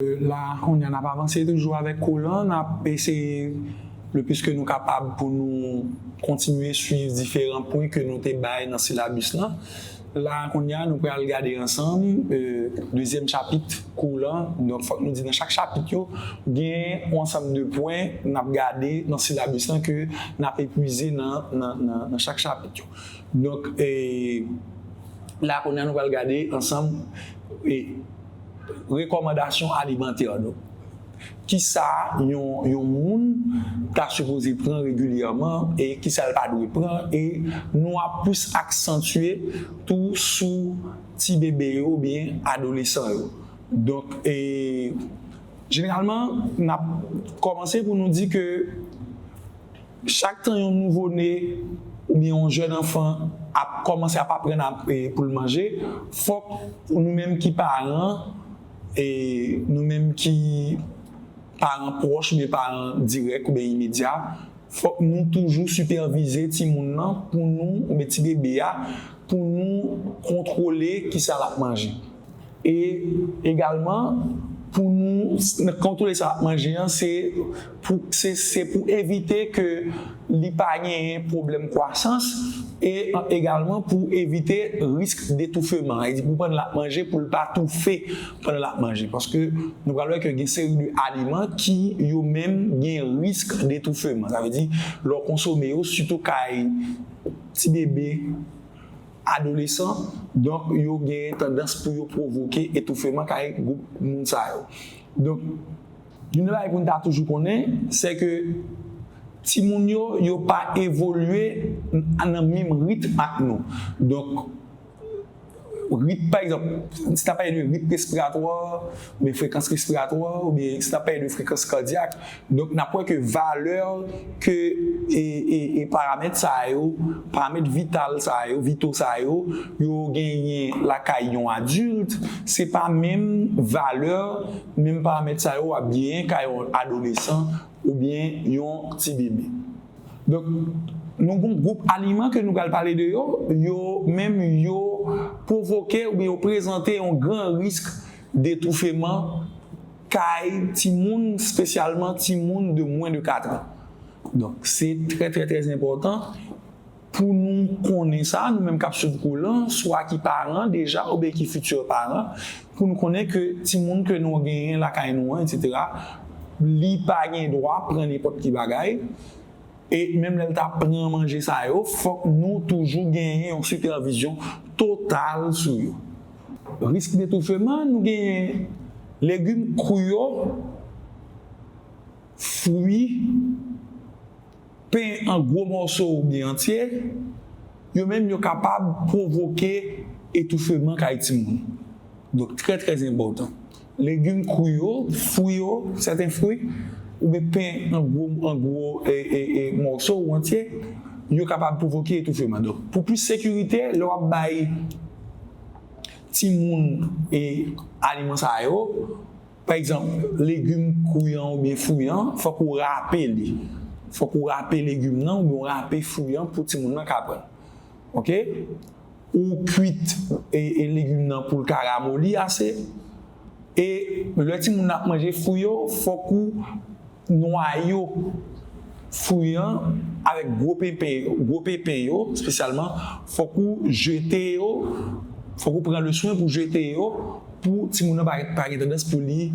La a, kounye a, n ap avanse toujou avèk kolan. N ap eseye le plis ke nou kapab pou nou kontinye suiv diferan pwen ke nou te bay nan silabis lan. La a, kounye a, nou pral gade ansanm dezyèm chapit kou lan. Donk, fòk nou di nan chak chapit yo, gen yon ansanm de pwen n ap gade nan silabis lan ke n ap epwize nan chak chapit yo. Donk, la a, kounye a, nou pral gade ansanm. Rekòmandasyon alimantè nou. Kisa yon moun ta sipoze pran regilyèman e kisa l pa dwe pran e nou ap plis aksantye tou sou ti bebe yo oubyen adolesan yo. Donk e jeneralman n ap kòmanse pou nou di ke. Chak tan yon nouvo ne oubyen yon jèn anfan ap kòmanse ap aprann pou l manje, fòk nou menm ki paran, nou menm ki paran pwòch oubyen paran dirèk oubyen imedya, fòk nou toujou sipèvize timoun nan pou nou, oubyen ti bebe a, pou nou kontwole kisa l ap manje. E egalman pou nou kontwole sa n ap manje an se pou se pou evite ke li pa genyen pwoblèm kwasans e egalman pou evite risk detoufeman e di pou pandan l ap manje pou l pa toufe pandan l ap manje paske nou pral wè ke gen seri de aliman ki yo menm gen risk detoufeman sa vle di lè w konsome yo sitou kay ti bebe. adolesan, donk yo genyen tandans pou yo pwovoke etoufeman kay gwoup moun sa yo. Donk, youn nan bagay pou n ta toujou konnen, sè ke timoun yo, yo pa evolye nan menm ritm ak nou. Donk, ritm, pa egzanp, si n ap pale de ritm respiratwa, oubyen frekans respiratwa, oubyen si n ap pale de frekans kadyak, Donk n ap wè ke valè ke e paramèt sa yo, paramèt vital sa yo, vitaux sa yo, yo genyen lakay yon adilt, se pa menm valè, menm paramèt sa yo ap genyen kay yon adolesan oubyen yon ti bebe. Donk nou gon gwoup aliman ke nou pral pale de yo, yo menm yo pwovoke oubyen yo prezante yon gran risk detoufeman. kay timoun spesyalman timoun de mwen de 4 an donk se trè trè trè enpòtan pou nou konnen sa nou menm kap swiv kou lan swa ki paran deja oubyen ki fitye paran pou nou konnen ke timoun ke nou genyen lakay nou an etc li pa gen dwa pran nenpòt ki bagay. E menm lè l ta pran manje sa yo, fòk nou toujou genyen yon sipèvizyon total sou yo. Risk detoufeman, nou genyen legim kri yo, fwi, pen an gwo mòso oubyen antye, yo menm yo kapab pwovoke etoufeman kay timoun. Donk trè trè enpòtan. Legim kwi yo, fwi yo, sèten fwi, oubyen pen an gwo an gwo mòso ou antye, yo kapab pwovoke etoufeman. Donk, pou plis sekirite, lè w ap bay timoun aliman sa yo, pa egzanp, legim kwi an oubyen fwi an, fòk ou rape li. Fòk ou rape legim nan oubyen ou rape fwi an pou timoun nan ka pran l. Ok. ou kwit legim nan poul ka ramoli ase e lè timoun nan ap manje fwi yo fòk ou nwayo fwi an avèk gwo pepe gwo pepe yo spesyalman fòk ou jete yo fòk ou pran le swen pou jete yo pou timoun nan pa gen tandans pou li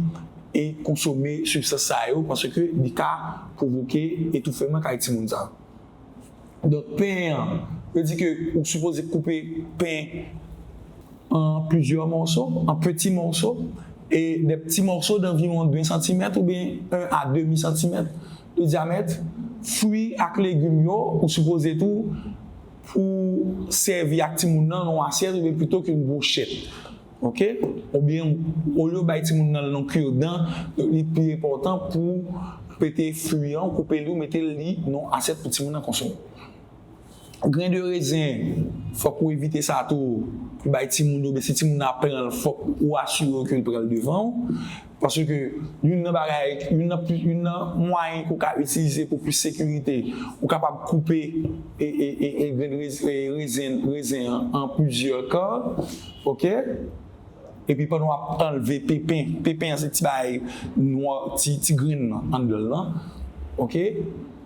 e konsome sibstans sa yo paske li ka pwovoke etoufeman kay timoun sa. Donk pen an, yo di ke ou sipoze koupe pen an plizyè mòso, an peti mòso, e de pti mòso danviwon de santimèt oubyen 1 a demi santimèt de dyamèt. Fwi ak legim yo, ou sipoze tou pou sèvi ak timoun nan nan yon asyèt oubyen pito ke yon bwochèt. Ok ou byen olye ou bay timoun nan non cure dan li pi enpòtan pou pete fwi an ou koupe li ou mete li non asyèt pou timoun nan konsome gren de rezen fòk ou evite sa tou pou bay timoun yo men si timoun nan ap pranl fòk ou asire w ke li pranl devan w. Paske youn nan bagay, youn nan pli, youn nan mwayen ke w ka itilize pou plis sekirite, ou kapab koupe e, e, e, e grenn rez, e rezen, rezen an an plizyè kan, ok. Epi pandan w ap anlve pepen, pepen an se ti bagay nwa, ti, ti grenn nan anndan l lan, ok.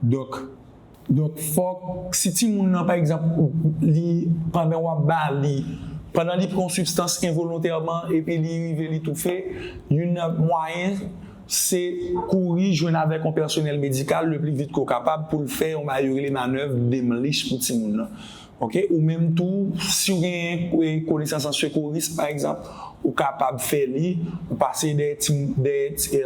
Donk, donk fòk si timoun nan pa egzanp li pandan wap ba li, pandan li pran yon sibstans envolontèman epi li rive li toufe, youn nan mwayen se kouri jwenn avèk yon pèsonèl medikal le pli vit ke w kapab pou l fè yon bagay yo rele manèv Demlich pou timoun nan. Ok, ou menm tou si w genyen konesans an sekouris pa egzanp, ou kapab fè li, ou pase dèyè ti dèyè ti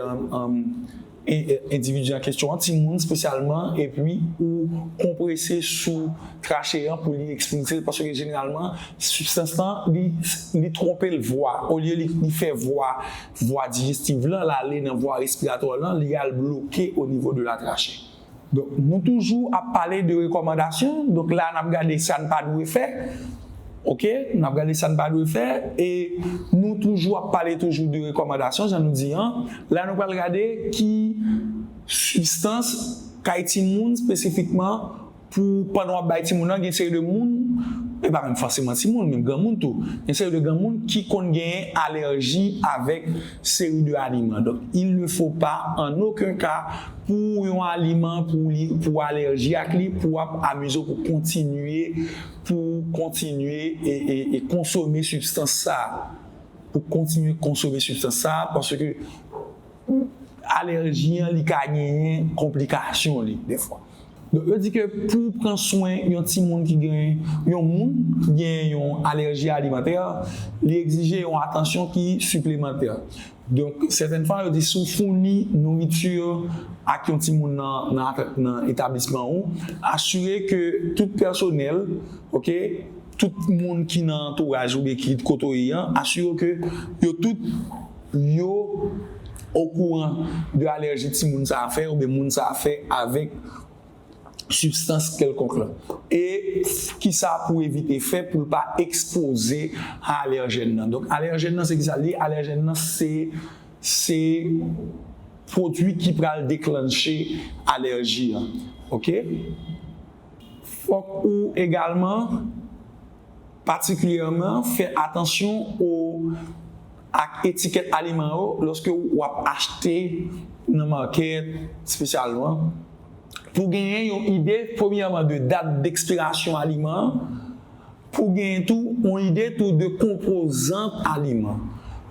Endividi an kesyon an timoun spesyalman epi ou konprese sou trache an pou li ekspilse l paske jeneralman sibstans lan li twonpe l vwa olye li fè vwa vwa dijestiv lan l ale nan vwa respiratwa lan li al bloke onivo de la trache. Donk nou toujou ap pale de rekòmandasyon, donk la nap gade sa n pa dwe fè ok, nap gade sa n pa dwe fè e nou toujou ap pale toujou de rekòmandasyon jan nou di an, la nou pral gade ki sibstans kay timoun spesifikman pou pandan wap bay timoun nan gen seri de moun, e pa menm fòseman timoun menm granmoun tou, gen seri de granmoun ki konn genyen alèji avèk seri de aliman donk il ne faut pas en aucun cas pou yon aliman pou li pou w alèji ak li pou w ap amize w pou kontinye pou w kontinye e konsome sibstans sa pou w kontinye konsome sibstans sa paske alèji an li ka genyen konplikasyon li defwa donk yo di ke pou w pran swen yon timoun ki gen yon moun ki gen yon alèji alimantè li egzije yon atansyon ki siplemantè. Donk, sèten fwa yo di si w founi nouriti ak yon timoun nan etablisman ou, asire ke tout pèsonèl, ok, tout moun ki nan antouraj ou oubyen ki kote w ye an, asire w ke yo tout yo okouran de alèji timoun sa a fè oubyen moun sa a fè avèk sibstans kèlkonk lan e kisa pou evite fè pou l pa ekspoze a alèjèn nan. Donk alèjèn nan se kisa li ye? Alèjèn nan se se pwodui ki pral deklanche alèji an. Ok. Fòk ou egalman Patikilyèman, fè atansyon o ak etikèt aliman yo lòske w ap achte nan makèt spesyalman pou w genyen yon ide premyèman de dat dekspirasyon aliman an, pou w genyen tou yon ide tou de konpozan aliman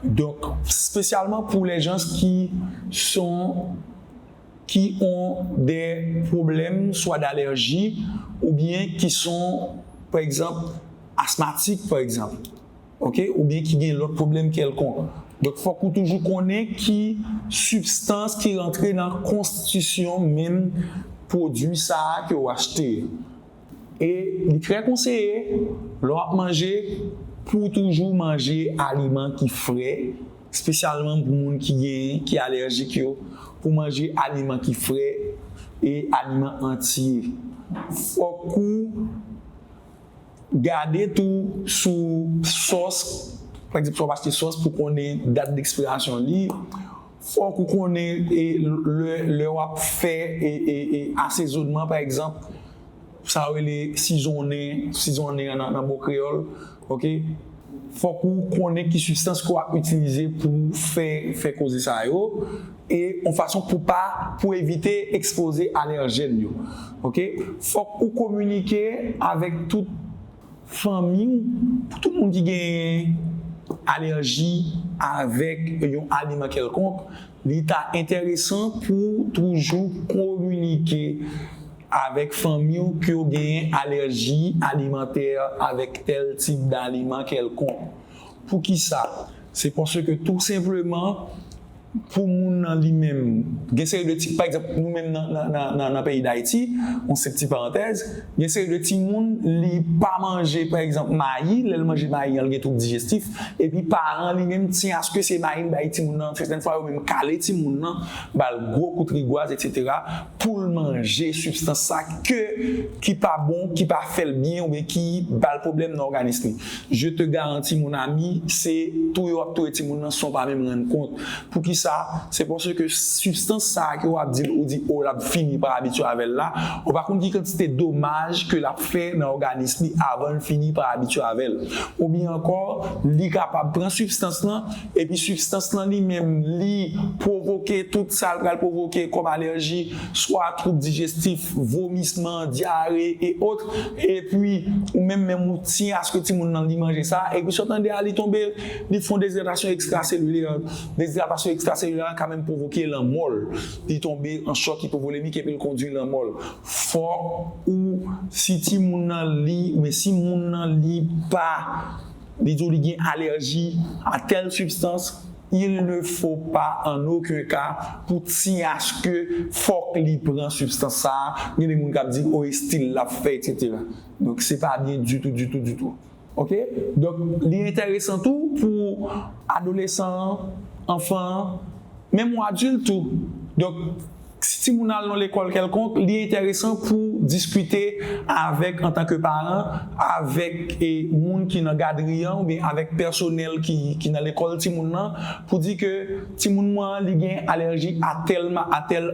donk spesyalman pou lèjans ki son. ki on de pwoblèm swa d'alèji ou byen ki son pa egzanp asmatik pa egzanp ok ou byen ki gen lòt pwoblèm kèlkonk donk fòk ou toujou konnen ki sibstans ki rantre nan konstitisyon menm pwodwi sa a ke ou achte E li trè konseye, lè w ap manje, pou w toujou manje aliman ki fre, spesyalman pou moun ki gen, ki alèjik yo, pou w manje aliman ki fre e aliman antye. Fòk ou gade tou sou sòs, pa egzanp, fòk ou achte sòs pou konnen dat dekspirasyon li. Fòk ou konnen lè wap fè asezonman pa egzanp sa yo rele sizonnen, sizonnen an nan bon kreyòl ok fòk ou konnen ki sibstans ke wap itilize pou fè fè koze sa yo e yon fason pou pa pou evite ekspoze alèjèn yo ok fòk ou kominike avèk tout Fanmi ou, Pou tout moun ki genyen alèji avèk yon aliman kèlkonk, li ta enteresan pou ou toujou kominike avèk fanmi ou ke w genyen alèji alimantè avèk tèl tip daliman kèlkonk. Poukisa? Se paske tou senpleman, pou moun nan li menm gen seri de ti pa egzanp nou menm nan nan peyi dayiti yon senp ti parantèz gen seri de ti moun li pa manje pa egzanp mayi lèl manje mayi an li gen twoub dijestif epi paran li menm ti aske se mayi li bay ti moun nan sètèn fwa yo menm kale ti moun nan bal gwo kout rigwaz etc poul manje sibstans sa ke ki pa bon ki pa fèl byen oubyen ki bal pwoblèm nan òganis li je te garanti mon ami se touye wap touye timoun nan san w pa menm rann kont poukisa se paske sibstans sa ke wap di ou di o lap fini pa abitye avèl la ou pa konn ki kantite domaj ke lap fè nan òganis li avanl fini pa abitye avèl oubyen ankò li kapab pran sibstans lan. Epi sibstans lan li menm li pwovoke tout sa l pral pwovoke kòm alèji, swa twoub dijestif, vomisman, dyare e otre, epi ou menm menm ou tiye aske timoun lan li manje sa, epi sa w tande a li tonbe, li fon dezidratasyon ekstraselilè, dezidratasyon ekstraselilè a ka menm pwovoke lanmò l, li tonbe an chòk ipovolemik epi l kondwi lanmò l. Fòk ou si timoun lan li oubyen si moun lan li pa. Li di w li gen alèji a tèl sibstans, il ne faut pas en aucun cas pou TH ke fòk li pran sibstans sa a, gen de moun kap di oh estil lap fè etc. Donk se pa byen ditou ditou ditou ok. Donk li entèresan tou pou adolesan an, anfan an, menm ou adilt tou donk. Si timoun al nan lekòl kèlkonk, li enteresan pou diskite avèk antan ke paran, avèk moun ki nan gadri an oubyen avèk pèsonèl ki nan lekòl timoun nan pou di ke timoun mwen an li gen alèji a tèl a tèl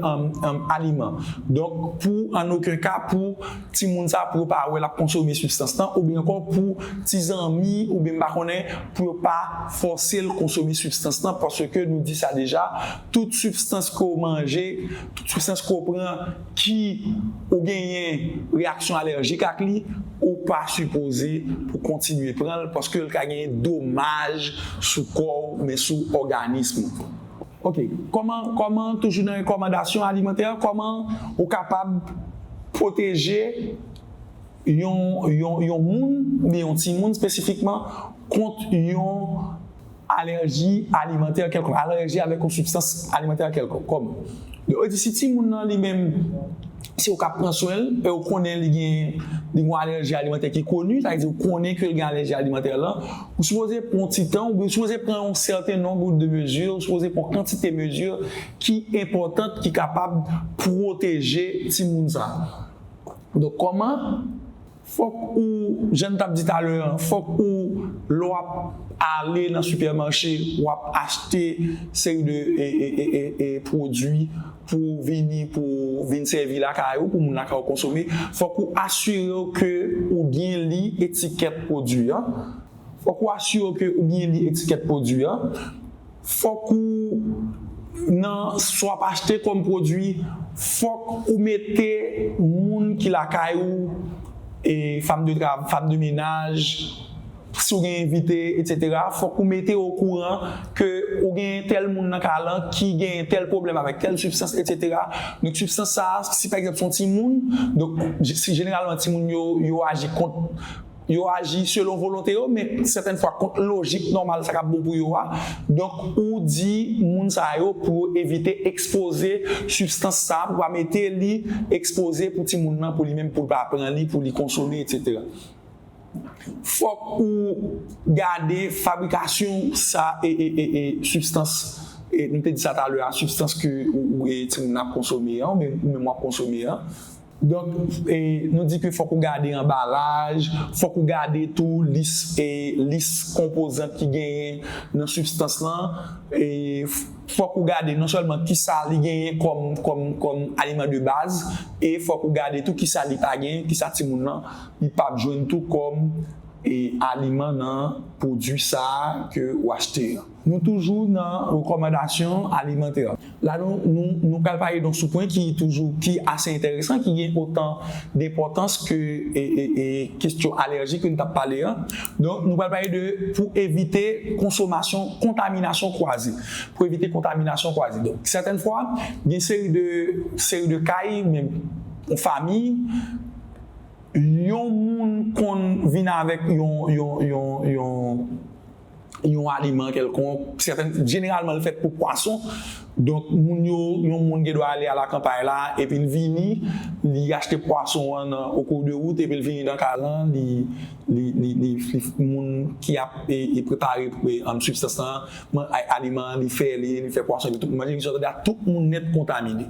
aliman. Donk pou an oken ka pou timoun sa pou yo pa wè l ap konsome sibstans lan oubyen ankò pou ti zanmi oubyen m pa konnen pou yo pa fòse l konsome sibstans lan paske nou di sa deja Tout sibstans ke w manje, tout sibstans ke w pran ki ou genyen reyaksyon alèjik ak li, ou pa sipoze pou kontinye pran l paske l ka genyen domaj sou kò w oubyen sou òganism ou. Ok, kòman, kòman, toujou nan rekòmandasyon alimantè, kòman ou kapab pwoteje yon, yon, yon moun oubyen yon timoun espesifikman kont yon. Alèji alimantè kèlkonk, alèji avèk yon sibstans alimantè kèlkonk, kòm, yo di si timoun nan li menm, se ou k ap pran swen l, e ou konnen li gen, li gen yon alèji alimantè ki koni, sa vle di ou konnen ke l gen alèji alimantè lan, ou sipoze pran yon ti tan, oubyen ou sipoze pran yon sèten nonb de mezi, ou sipoze pran yon kantite mezi ki enpòtant, ki kapab pwoteje timoun sa a. Donk, kòman Fòk ou, jan n t ap di talè an, fòk ou lè w ap ale nan sipèmache, w ap achte seri de pwodui pou w vini pou w vin sèvi lakay ou, pou moun lakay ou konsome, fòk ou asire w ke ou byen li etikèt pwodui an, fòk ou asire w ke ou byen li etikèt pwodui an. Fòk ou nan sa w ap achte kòm pwodui, fòk ou mete moun ki lakay ou, fam de travay, fam de menaj, si w gen envite etc. Fòk ou mete yo okouran ke ou genyen tèl moun nan kay lan ki genyen tèl pwoblèm avèk tèl sibstans etc. Donk sibstans sa a, si pa egzanp se yon timoun, donk jeneralman timoun yo yo aji kont Yo aji selon volonte yo, men sètèn fwa kont lojik nòmal sa k ap bon pou yo a. Donk, ou di moun sa yo pou yo evite ekspoze sibstans sa a, pou pa mete li ekspoze pou timoun nan, pou li menm pou l pa pran li, pou li konsome, etsetera. Fòk ou gade fabrikasyon sa sibstans, nou te di sa talè a, sibstans ke timoun nan ap konsome an, ou menm w ap konsome an. Donk, nou di ke fòk ou gade anbalaj, fòk ou gade tou lis lis konpozant ki genyen nan sibstans lan, fòk ou gade non sèlman kisa li genyen kòm kòm kòm aliman de baz e fòk ou gade tou kisa li pa genyen, kisa timoun lan li p ap jwenn tou kòm aliman nan pwodui sa a ke ou achte an. Nou toujou nan rekòmandasyon alimantè. La nou nou pral pale don sou pwen ki toujou ki ase enteresan ki gen otan denpòtans ke kestyon alèji ke nou tap pale an. Donk nou pral pale de pou evite konsomasyon kontaminasyon kwaze. Pou evite kontaminasyon kwaze. Donk sètèn fwa gen seri de seri de kay menm yon fami yon moun konn vin avèk yon yon yon yon yon aliman kèlkonk, sèten, jeneralman l fèt pou pwason, donk moun yo, yon moun gen dwa ale a la kanpay la, epi l vini, li achte pwason an nan o kou de wout, epi l vini nan kay lan, li, li, li, li, li, moun ki ap e, e prepare e, an, sibstans lan, man, a, aliman an, li fè li, li fè pwason epi tout moun manje, li sot, a, tout moun nèt kontamine.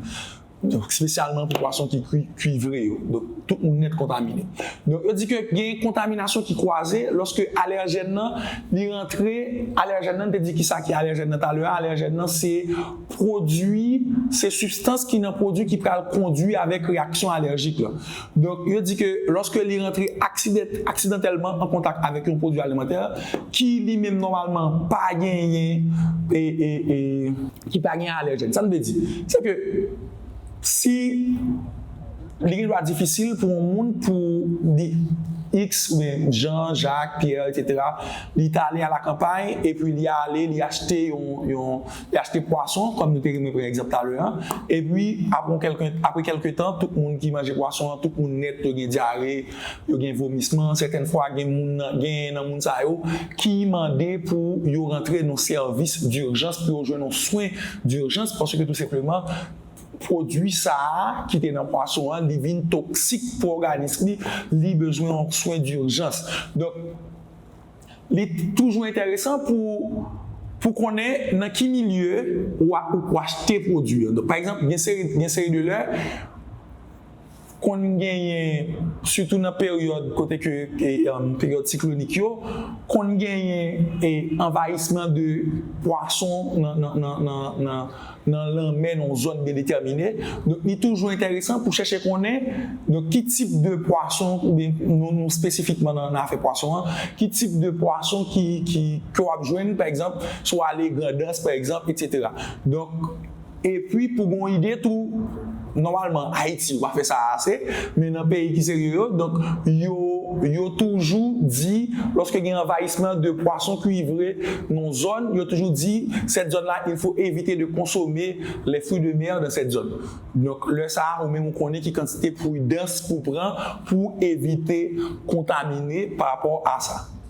spesyalman pou pwason ki kuivre yo, donk tout moun nèt kontamine. Donk yo di ke gen kontaminasyon ki kwaze lòske alèjèn nan li rantre, alèjèn nan, n te di ki sa ki alèjèn nan talè a, alèjèn nan se pwodui, se sibstans ki nan pwodui ki pral kondui avèk reyaksyon alèjik lan. Donk, yo di ke lòske li rantre aksidantèlman an kontak avèk yon pwodui alimantè ki li menm nòmalman pa genyen, ki pa genyen alèjèn. Sa m vle di, se ke si li gendwa difisil pou yon moun pou li, iks oubyen Jan, Jak, Pyè, eksetera, li ta ale alakanpay epi li ale li achte yon, Li achte pwason, kòm nou te renmen pran egzanp talè a, epi apre kèlke tan, tout moun ki manje pwason an, tout moun nèt yo gen dyare, yo gen vomisman, sèten fwa gen genyen nan moun sa yo ki mande pou yo rantre nan sèvis durjans pou yo jwenn yon swen durjans paske tou senpleman pwodui sa a ki te nan pwason an li vin toksik pou òganis li, li bezwen yon swen durjans. Donk. Li toujou enteresan pou pou konnen nan ki milye ou a ou achte pwodwi an. Donk pa egzanp gen seri gen seri de lè konn genyen sitou nan peryòd kote ke peryòd siklonik yo konn genyen anvayisman de pwason nan nan nan nan nan lanmè nan yon zòn biyendetèmine, donk li toujou enteresan pou chèche konnen donk ki tip de pwason oubyen nou espesifikman nan afè pwason an, ki tip de pwason ki ki ke w ap jwenn pa egzanp si w ale Grandans pa egzanp eksetera donk epi pou gen yon ide tou. Nòmalman Ayiti yo pa fè sa ase, men nan peyi ki serye yo, donk yo yo toujou di lòske gen anvayisman de pwason kwivre nan yon zòn, yo toujou di cette zone là il faut éviter de consommer les fruits de mer dans cette zone. Donk lè sa a ou menm ou konnen ki kantite pridans pou w pran pou w evite kontamine parapò a sa.